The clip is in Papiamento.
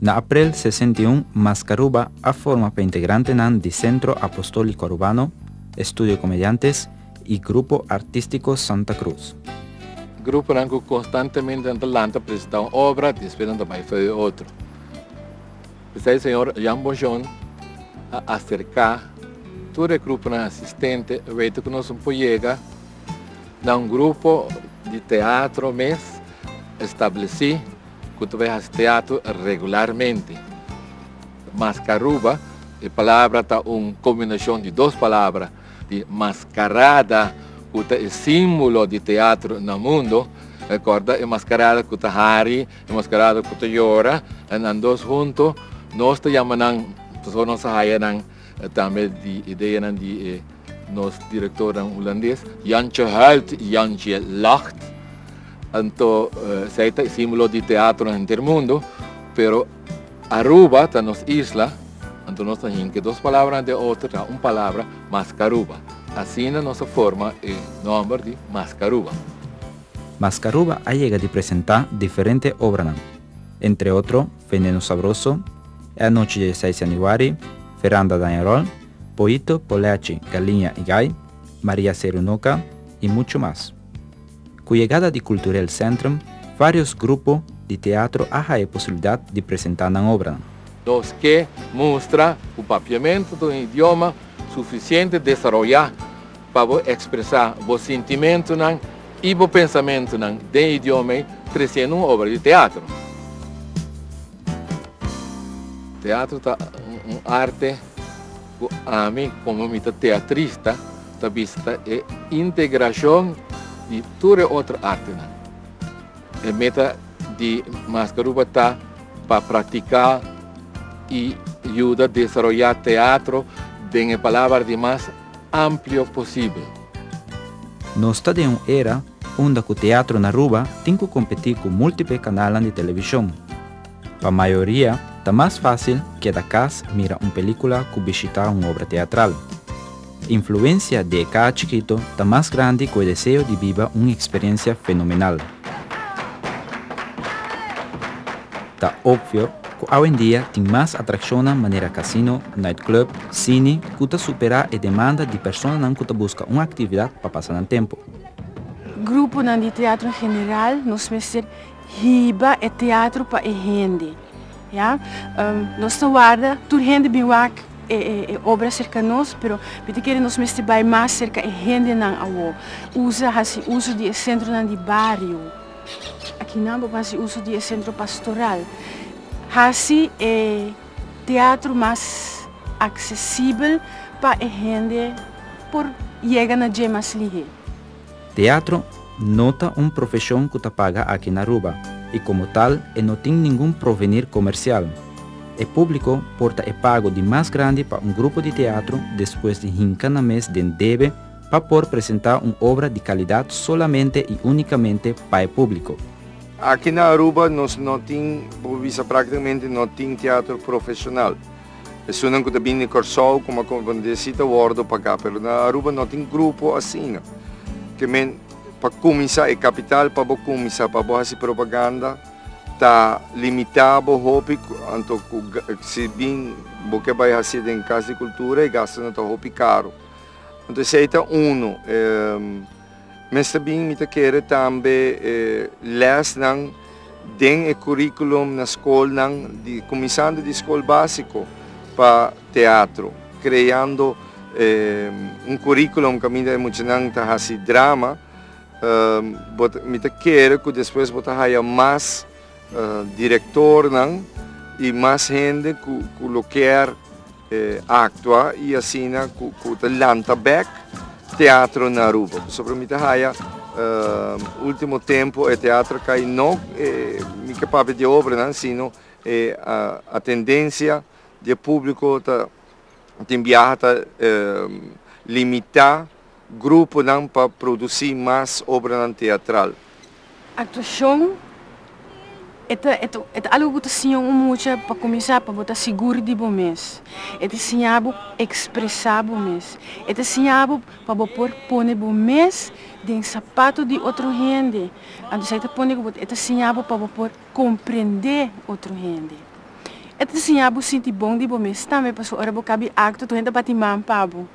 Na aprel sesenta i un, Maskaruba a forma pa integrantenan di Centro Apostólico Arubano, Estudio Comediantes i Grupo Artístico Santa Cruz. Gruponan ku konstantemente nan ta lanta presentá un obra despues nan ta bai for di otro. P'esei señor Jan Bonjon a aserká tur e gruponan asistente, wete ku nos un por yega, Na un grupo di teatro mes establesí ku ta bai hasi teatro regularmente. Maskaruba, e palabra ta un kombinashon di dos palabra di maskarada ku ta e símbolo di teatro na mundo, rekorda e maskarada ku ta hari, e maskarada ku ta yora, e nan dos hunto nos ta yama nan, pasobra nos a haya nan tambe di ideanan di e. Nos direktornan Hulandes, Jantje Huilt i Jantje Lacht. Anto esei ta e símbolo di teatro na henter mundu, pero Aruba ta nos isla, anto nos ta hinke dos palabra na den otro ta un palabra, Maskaruba. Asina nos a forma e nòmber di Maskaruba. Maskaruba a yega di presentá diferente obranan, entre otro Veneno Sabroso, E Anochi di e Seis Yanüari, Veranda Dañarol, Poito, Polechi, Galiña y Gay, Maria Cerunoca y mucho mas. Cu yegada di Culturel Centrum varios grupo di teatro a haya posibilidad di presenta nan obranan. Nos ke mustra cu Papiamento ta un idioma suficiente desaroya pa bo expresa bo sintimentonan y bo pensamentonan den idioma ey treciendo un obra di teatro. Teatro ta un arte. Ku ami komo mi ta teatrista ta bista e integrashon di tur e otro artenan. E meta di Maskaruba ta pa praktiká i yuda desaroyá teatro den e palaber di mas amplio posibel. Nos ta den un era unda ku teatro na Aruba tin ku kompetí ku múltiple kanalnan di televishon. Pa mayoria, ta mas fásil keda kas mira un pelíkula ku bishitá un obra teatral. E influensia di e kaa chikitu ta mas grandi ku e deseo di biba un eksperensia fenomenal. Ta opvio ku awendia tin mas atrakshonnan manera kasino, nightclub, sini ku ta superá e demanda di personanan ku ta buska un aktividat pa pasa nan tempu. Gruponan di teatro en general nos mester Hiba e teatro pa e hende, ya. Nos ta warda tur hende bin wak e obra serka nos, pero mi ta kere nos mester bai mas serka e hendenan awor. Usa, hasi uso di e sentronan di bario. Aki nan bo por hasi uso di e sentro pastoral. Hasi e teatro mas aksesibel pa e hende por yega na dje mas lihe. Teatro no ta un profesion cu ta paga aki na Aruba y como tal e no tin ningun provenir comercial. E publico por ta e pago di mas grandi pa un grupo di teatro despues di hinca nan mes den debe pa por presenta un obra di calidad solamente y unicamente pa e publico. Aki na Aruba nos no tin, bo bisa practicamente no tin teatro profesional. Esunnan ku ta bini di Kòrsou kuma konfundí si ta wòrdu pagá, pero na Aruba no tin grupo asina. Ke men pa kuminsá e kapital pa bo kuminsá pa bo hasi propaganda ta limitá bo hopi, anto ku si bin bo ke bai hasi den Kas di Kultura e gastunan ta hopi karu. Anto esei ta unu. Mester bin mi ta kere tambe e lèsnan den e kùrikulum na skolnan, di kuminsando di skol básiko pa teatro, kreando un kùrikulum kaminda e muchanan ta hasi drama. Bo ta, mi ta kere ku despues bo ta haya mas direktornan i mas hende ku lo kier. Actua y asina cu ta lanta bek teatro na Aruba. Pasobra mi ta haya ultimo tempo e teatro cay no mi ke papia di e obranan sino e atendencia di e publico ta tin biaha ta limita. gruponan pa produsí mas obranan teatral. Actuashon e ta e ta algu ku ta siña un mucha pa kuminsá pa bo ta sigur di bo mes. E ta siña bo ekspresá bo mes. E ta siña bo pa bo por pone bo mes den sapato di otro hende. Anto esei ta pone ku bo e ta siña bo pa bo por komprendé otro hende. E ta siña bo sinti bon di bo mes tambe pasobra ora bo kabi akto tur hende ta bati man pa bo.